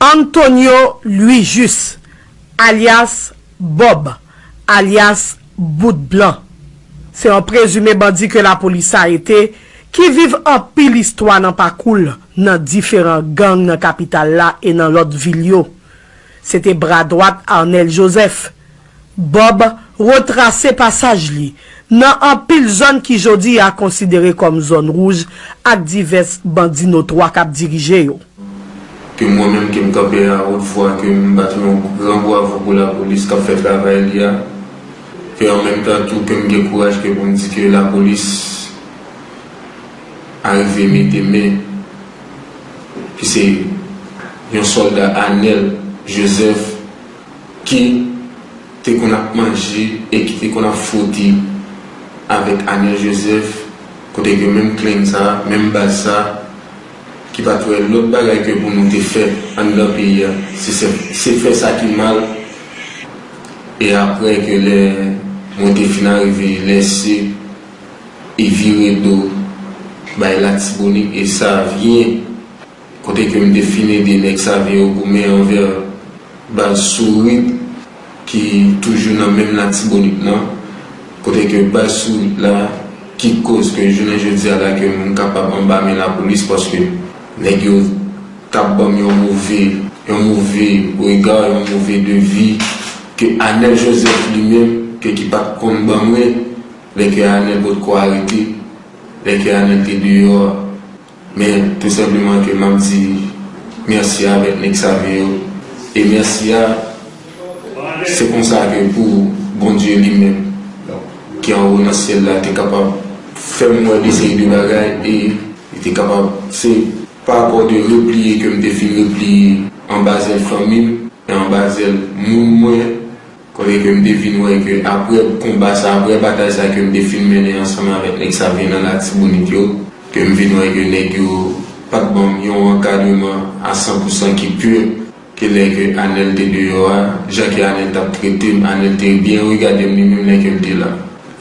Antonio Louis-Jus, alyas Bob, alyas Bout Blan, se yon prezime bandi ke lapolis arete ki viv anpil istwa nan pakou l nan diferan gang nan kapital la e nan lòt vil yo. Se te bra dwat Arnel Joseph. Bob retrase pasaj li nan anpil zòn ki jodi a konsidere kòm zòn wouj ak divès bandi notwa k ap dirije yo. Ke mwen menm ke m kanpe a wot vwa ke m bat yon gran bwavo pou lapolis k ap fè travay li a, ke an menm tan tou ke m gen kouraj ke pou m di ke lapolis arive mete men ki se yon sòlda Anel Joseph. ki te konn ap manje e ki te konn ap fwote avèk Anel Joseph kote gen menm klenn sa, menm baz sa ki pat wè lòt bagay ke pou nou te fè anndan peyi a se fè sa ki mal e aprè ke lè mwen te fin arive lèse e vire do bay Latibonit e Savyen. Kote ke m te fin ede nèg save yo goumen anvè baz Sourit ki toujou nan menm Latibonit nan. Kote ke baz Sourit la ki koz ke jounen jodi a la ke m kapab anba men lapolis paske nèg yo t ap ban m yon move, yon move rega, yon move devi ke Anèl Jozèf li menm ke ki pa t konn ban mwen lè ke Anèl potko arete, lè ke Anèl te deyò a. Men tou senpleman ke map di merci avek neg sa vye yo e merci a se konsa ke pou Bondye li menm ki anwo nan syel la te kapab fem we de seri de bagay e li te kapab se pa rapò de repliye kem te fin repliye anba zel fanmim e anba zel moun mwen. Kote ke m te vin wè ke apre konba sa, apre batay sa ke m te fin mennen ansanm avèk nèg Savyen nan Latibonit yo, ke m vin wè ke nèg yo pa t ban m yon ankadreman a san pou san ki pur, ke lè ke Anèl te deyò a, jan ke Anèl t ap trete m, Anèl te byen regade m li menm lè ke m te la.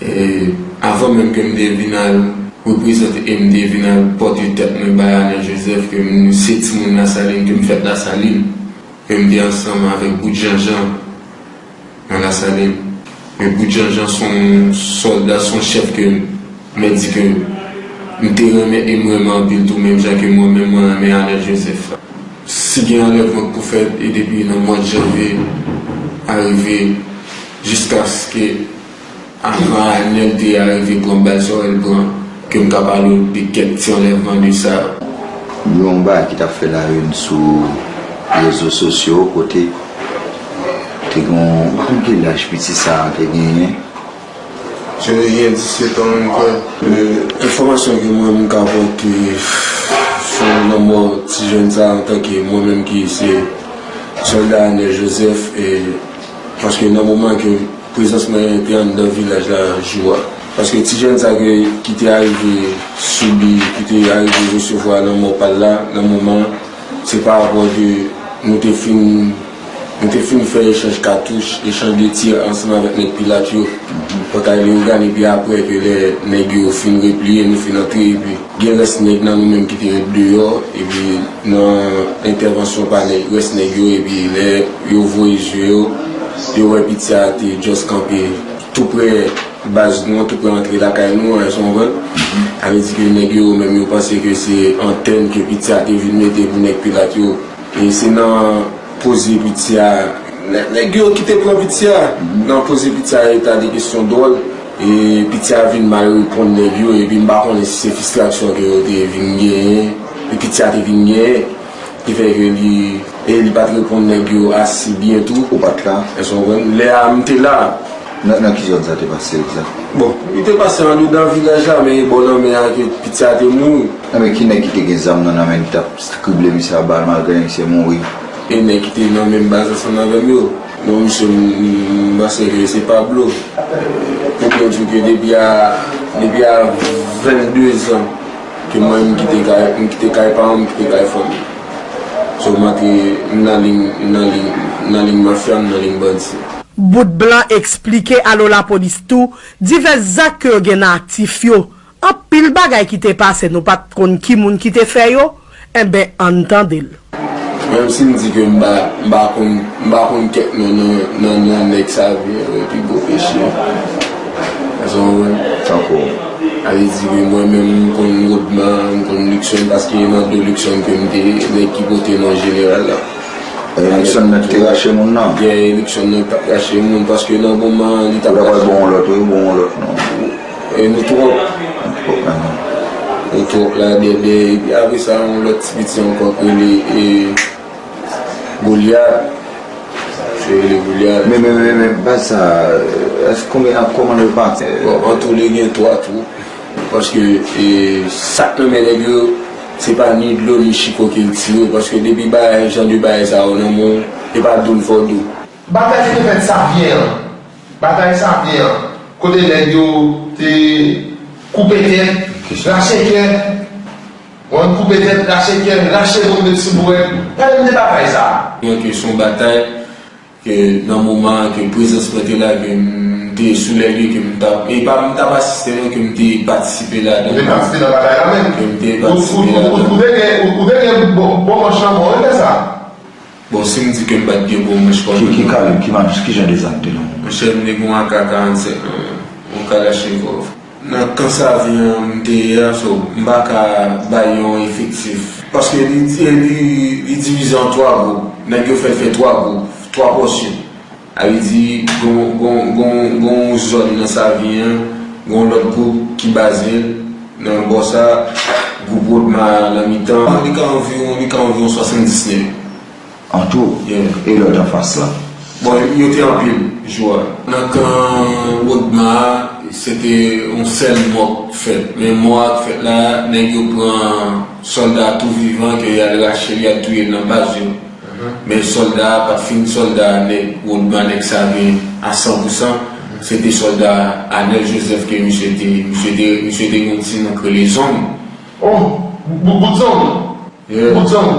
E, avan menm ke m te vin al reprezante e m te vin al pòte tèt mwen bay Anèl Jozèf ke m se timoun Lasalin, ke m fèt Lasalin. Menm te ansanm avèk Bout Janjan nan Lasalin. Men Bout Janjan s on sòlda, s on chèf ke mwen di ke m te renmen e m renmen anpil tou menm jan ke mwen menm mwen renmen Arnel Joseph. Si gen anlèvman k pou fèt e depi nan mwad janvye arive jiskaske. Avan Anel te arive pran bal Sorel pran, ke m ka pale w de kèk ti anlèvman de sa yo. Yon bagay ki t ap fè layoun sou rezo sosyo kote te gen yon, m pa konn ki laj piti sa a te genyen. Se te gen 17 an menm kwè. Enfòmasyon ke mwen m ka pote sou lanmò ti jèn sa a antanke mwen menm ki se sòlda Anel Joseph e paske nan moman ke Prezans mwen te anndan vilaj la jou a, paske ti jèn sa ke ki te arive sibi, ki te arive resevwa lanmò pa l la nan moman an, se pa rapò de nou te fin nou te fin fè echanj katouch, echanj de tir ansanm avèk nèg Pilat yo, Pòtay Leyogàn epi aprè ke lè nèg yo fin repliye nou fin antre epi. Gen rès nèg nan nou menm ki te ret deyò epi nan entèvansyon pa nèg rès nèg yo epi lè yo voye je yo, yo wè piti a te just kanpe tou prè baz nou an, tou prè antre lakay nou an, èske w konprann? Sa vle di ke nèg yo yo menm yo panse ke se antèn ke piti a te vin mete pou nèg pilat yo e se nan poze piti a, nèg yo ki te pran piti a, nan poze piti a yo ta de kesyon dwòl. E piti a vin mal reponn nèg yo epi m pa konnen si se fistrasyon ke yo te vin genyen, ke piti a te vin genyen, ki fè ke li, e li pa t reponn nèg yo asi byen tou. Ou pa t la? Èske w konprann? Lè a, m te la. Nan, nan ki zòn sa te pase egzat? Bon, li te pase andedan vilaj la, men e bò lanmè a ke piti a te mouri. Enben, ki nèg ki te gen zam nan nan men li t ap skrible misye a bal malgre misye mouri? E nèg ki te nan menm baz ansanm avè m yo. Non msye m panse ke se Pablo pou mwen di w ke depi a 22 zan ke mwen m kite kay m kite kay paran m kite kay fanmi m so m antre m nan ling m nan ling m nan ling mafya m nan ling bandi. Bout blan eksplike alo lapolis tou divès zak ke yo gen nan aktif yo Anpil bagay ki te pase nou pat konn ki moun ki te fè yo, enben ann tande l. Menm si m di ke m pa konn m pa konn kèk non nan non nèg sa yo byen vre pi gwo peche èske w konprann tankou a vle di ke mwen menm m konn Rodman m konn Luckson paske nan do Luckson ke m te nèg ki pote non jeneral la e Luckson nan ki te rache moun nan e Luckson nan ki pat rache moun paske nan moman an li t ap rache moun nan ou ta pral gen yon lòt wi ou ta pral gen yon lòt non. Nou trop Nou trop la dèdè epi apre sa yon lòt ti piti ankò ki rele e Goliath se rele Goliath. Men men men men baz sa èske konbyen ak kòman yo pati? Bon antoule gen 3 twou paske e sak nan men nèg yo se pa ni dlo ni chiko ke l tire paske depi bagay jan de bagay sa yo nan men w e pa dou l fò dou. Bagay Steven Xavier an. Batay sa byen an kote nèg yo te koupe tèt rache kè wan koupe tèt rache kè rache moun met sou bouèt pale m de batay sa. Byen ke son batay ke nan moman an ke prezans mwen te la ke m te sou lè lye ke m ta e pa m tap asiste non ke m te patisipe ladan. Ou te patisipe nan batay la menm? Ke m te patisipe ladan. Ou te gen bon manch lanmò wi lè sa. Bon sim di kem pat gen gwo manch koman. Ki kalib, ki map, ki jan de zam te nan menw. Monchè m te gen yon ak 47 nan menm, yon kalachnikov. Nan kan savi an m te ye a so m pa ka bay yon efektif. Paske li divize an 3 gwoup, nèg yo fè l fè 3 gwoup, 3 pòsyon. Ayiti, gen yon zòn nan Savyen an, gen yon lòt gwoup ki baze l nan bò sa a, gwoup Rodma a nan mitan an, li ka anviwon 70 nèg. An tou? Yeah. E lòt anfas lan? Bon, yo te anpil jou a. Nan kan Rodma a, se te yon sèl mò k fèt. Men mò a k fèt la, nèg yo pran sòlda tou vivan ke y al rache l, y al touye l nan baz yo. Men solda a pat fin solda nèg Rodman nèg Savien a san pou san, se te solda Anel Joseph ke misye te, misye te, misye te gen yon ti non k rele Zong. Oh! Bout Zong? Yeah. Bout Zong?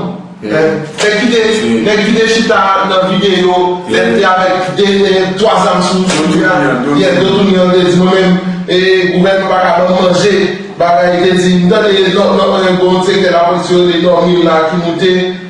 Yeah. Nèg ki te, nèg ki te chita nan videyo lè l te avèk de, twa zam sou li a? Do tounen an, do tounen an. Yeah, do tounen an te di mwen menm e gouvènman pa ka ban m manje, bagay, li te di, m tande lòt, lòt, gen yon sektè lapolis yo te dòmi la ki moute.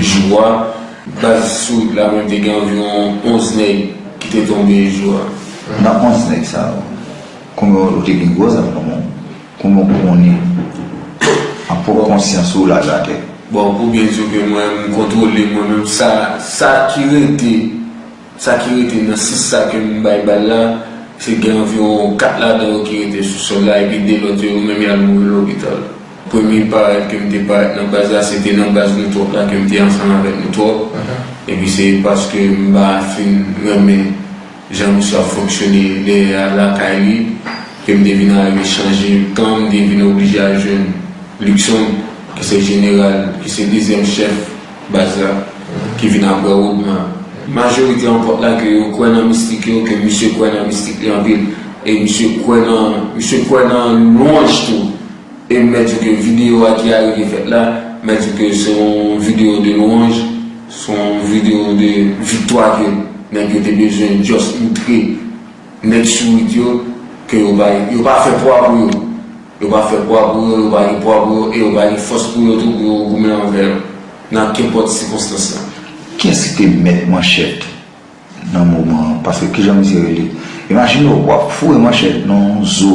Jou a, baz Sourit la konn te gen anviwon 11 nèg ki te tonbe jou a. Nan 11 nèg sa yo, konbyen ou te gen gwo zam nan men w? Konbyen ou konnen an pwòp konsyans ou laj atè? Bon, pou byen di w ke mwen, m kontwole mwen menm sa, sa ki rete Sa ki rete nan 6 sa ke m bay bal la, se gen anviwon 4 ladan yo ki rete sou sòl la epi 2 lòt yo, yo menm y al mouri lopital. Premye parèt ke m te parèt nan baz la, se te nan baz nou twòp la ke m te ansanm avèk nou twòp. Epi se paske m pa fin renmen jan misye ap fonksyone dèyè a lakay li ke m te vin arive chanje kan, m te vin oblije al jwenn Luckson ki se jeneral, ki se dezyèm chèf. Baz la, ki vin aprè Woodman. Majorite an pot la ke yo kwè nan mistik yo, ke misye kwè nan mistik li anpil. E misye kwè nan, misye kwè nan lwanj tou. E mè di w ke videyo a ki arive fèt la, mè di w ke se yon videyo de lwanj, se yon videyo de viktwa ke nèg yo te bezwen just moutre. Nèg sourit yo, ke yo bay, yo pa fè pwa pou yo. Yo pa fè pwa pou yo, yo pa gen pwa pou yo, e yo pa gen fòs pou yo tou pou yo goumen anvè yo, nan kenpòt sikonstans la. Kiyès ki te mèt manchèt nan moman an? Paske kijan misye rele? Imajine w, w ap foure manchèt nan yon zo.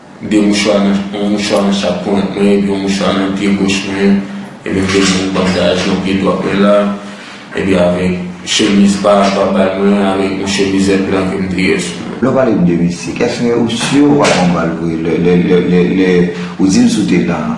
2 mouchwa nan, yon mouchwa nan chak ponyèt mwen epi yon mouchwa nan pye goch mwen, epi m te gen yon bandaj nan pye dwat mwen la, epi avèk chemiz pa bal mwen avèk yon chemizèt blan ke m te gen sou mwen. Lè w pale m de misik, èske ou si w pa pran bal vre lè ou di m si w te la a?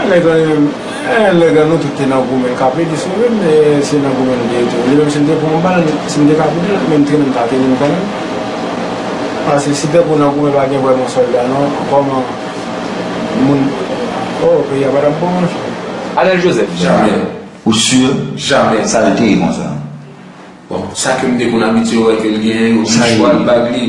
An lè grann yo, an lè grann nou tout te nan goumen kap ede sove m e se nan goumen nou te ye tou. Li menm si m te pran yon bal, si m te ka kouri l, men m trennen m ta trennen m kanmenm. Paske si pèp ou nan goumen pa gen vrèman sòlda non, kòman moun, oh peyi a pa tap bon non. Anel Joseph, Jamè. Ou sur? Jamè. Sa l te ye konsa? Bon, sa ke m te konn abitye wè ke l genyen yo, mouchwa l bag li.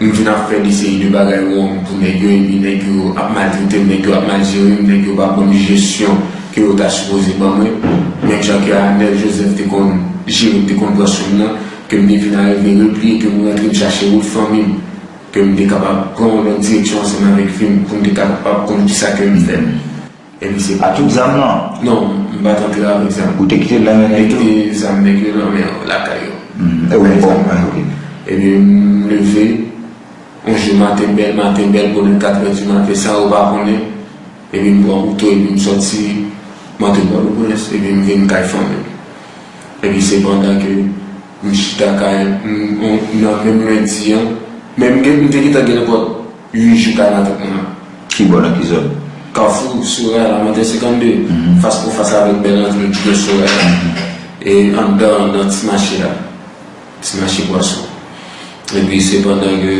m vin ap fè de seri de bagay wrong pou nèg yo epi nèg yo ap maltretem, nèg yo ap mal jerem, nèg yo pa banm jesyon ke yo ta sipoze ban mwen, menm jan ke Anel Joseph te konn jerem te konn pran soum nan, ke m te vin arive repliye ke m rantre m chache wout fanmi m, ke m te kapab pran yon lòt direksyon ansanm avèk vi m pou m te kapab konn kisa ke m fè. Epi se pa tout zam nan? Non, m pa t antre avèk zam. Ou te kite l nan men nèg yo? Mwen kite zam nèg yo nan men lakay yo. Mwen pran zam nan. Epi m leve, yon jou maten bèl, maten bèl, bonè katrè di maten san yo pa konnen. Epi m pran kouto epi m soti, m antre Pòtoprens epi m vin kay fanmi m. Epi se pandan ke m chita kay, nan menm lendi an, men m te gentan gen lèkòl. Ui jou kay la tout moun an. Ki bon epizod. Kafou, Soraya lamothe 52 fas pou fas avèk bèl antre ki gen Soraya e anndan nan ti mache a, ti mache pwason. Epi se pandan ke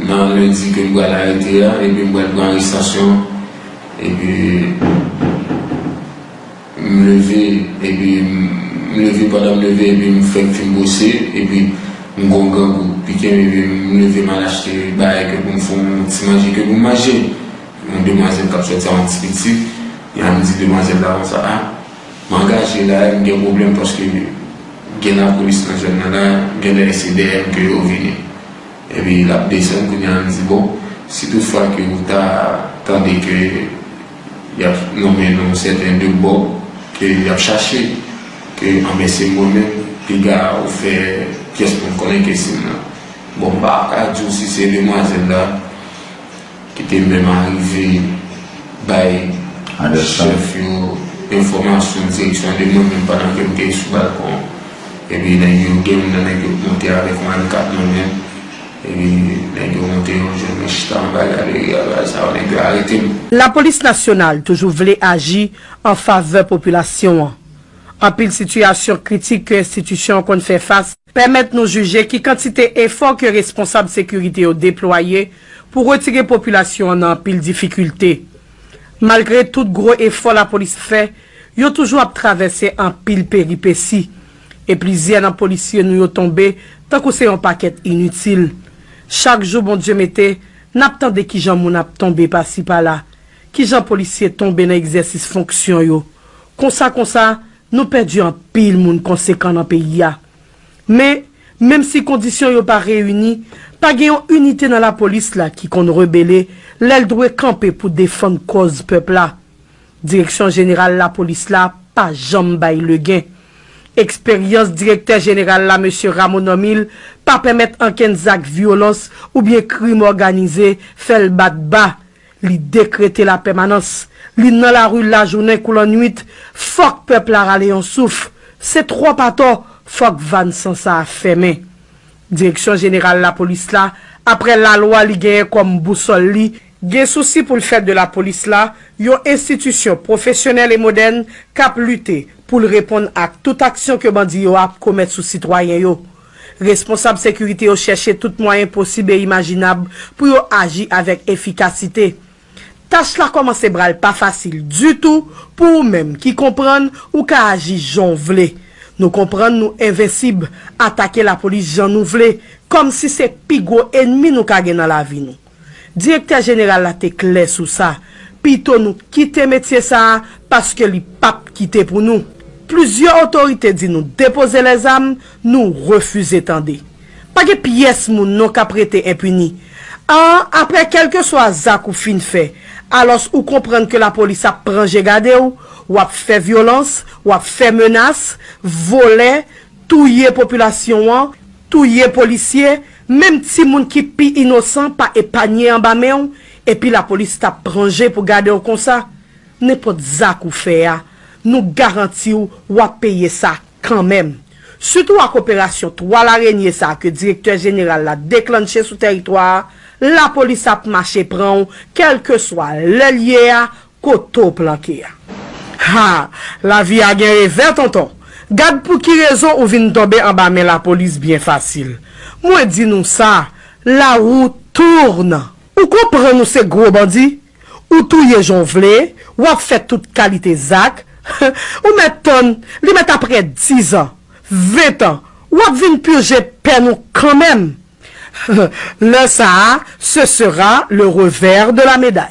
nan lendi ke m pral arete a epi m pral pran arestasyon epi. M leve epi m leve pandan m leve epi m fèk fin bwose epi m gon grangou pikem epi m leve m al achte bagay ke pou m fon ti manje ke pou m manje yon demwazèl kap sòti a yon ti pitit epi m di demwazèl la konsa a m angaje la m gen pwoblèm paske gen lapolis nan zòn nan la genlè se dèyè m ke yo vini epi lap desann kounye a m di bon si tout fwa ke ou ta tande ke. Y ap nonmen nou sèten de bò ke y ap chache. Ke anben se mwen menm piga ou fè pyès pou m konnen ke se m nan. Bon m pa ka di w si se demwazèl la ki te menm arive bay chèf yo enfòmasyon direksyon de mwen menm pandan ke m te sou balkon an. Epi nèg yo gen youn nan nèg yo k monte avèk yon alikap nan men. Epi nèg yo monte yo jwenn mwen chita anba galeri a bay sa yo nèg yo arete m. Lapolis nasyonal toujou vle aji an favè popilasyon an. Anpil sitiyasyon kritik ke enstitisyon an konn fè fas, pèmèt nou jije ki kantite efò ke responsab sekirite yo deplwaye pou retire popilasyon an nan anpil difikilte. Malgre tout gwo efò lapolis fè, yo toujou ap travèse anpil peripesi. e plizyè nan polisye nou yo tonbe tankou se yon pakèt initil. Chak jou Bondye mete, n ap tande kijan moun ap tonbe pasi pala, kijan polisye tonbe nan egzèsis fonksyon yo. Konsa konsa, nou pèdi anpil moun konsekan nan peyi a. Men, menm si kondisyon yo pa reyini, pa gen yon inite nan lapolis la ki konn rebele lè l dwe kanpe pou defann kòz pèp la. Direksyon jeneral lapolis la pa janm bay legen. Eksperyans direktè jeneral la Mesye Rameau Normil pa pèmèt ankenn zak vyolans oubyen krim òganize fè l bat ba. Li dekrete lapèmanans. Li nan lari lajounen kou lannuit. Fòk pèp la rale yon souf. Se twòp atò, fòk vàn san sa a fèmen. Direksyon jeneral lapolis la, aprè lalwa li genyen kòm bousòl li, gen sousi pou l fè de lapolis la yon enstitisyon pwofesyonèl e modèn k ap lite pou l reponn ak tout aksyon ke bandi yo ap komèt sou sitwayen yo. Responsab sekirite yo chèche tout mwayen posib e imajinab pou yo aji avèk efikasite. Tach la kòmanse bra l pa fasil ditou pou ou menm ki konprann ou ka aji jan w vle. Nou konprann nou envensib, atake lapolis jan nou vle, kòmsi se pi gwo enmi nou ka gen nan lavi nou. Direktè jeneral la te klè sou sa, pito nou kite metye sa a paske li p ap kite pou nou. Plizyè otorite di nou depoze lèzam, nou refize tande. Pa gen pyès moun non k ap rete enpini. A Aprè kèlkeswa zak ou fin fè, alòs ou konprann ke lapolis ap pran je gade w, w ap fè vyolans, w ap fè menas, vole, touye popilasyon an, touye polisye, menm timoun ki pi inosan pa epanye anba men w, epi lapolis t ap pran je pou gade w konsa? Nenpòt zak ou fè a, nou garanti w w ap peye sa kanmenm. Sitou ak operasyon twa larenye sa ke direktè jeneral la deklannche sou tèritwa a, lapolis ap mache pran w kèlkeswa lè l ye a, Kote w planke a? Ha! Lavi a gen revè, tonton. Gad pou ki rezon ou vin tonbe anba men lapolis byen fasil. Mwen di nou sa, la roue tourne! Ou konprann ou se gwo bandi, ou touye jan w vle, w ap fè tout kalite zak, ou mèt tann, li mèt apre dizan, ventan, w ap vin purje pèn ou kanmenm! Lè sa a, ce sera le revers de la médaille.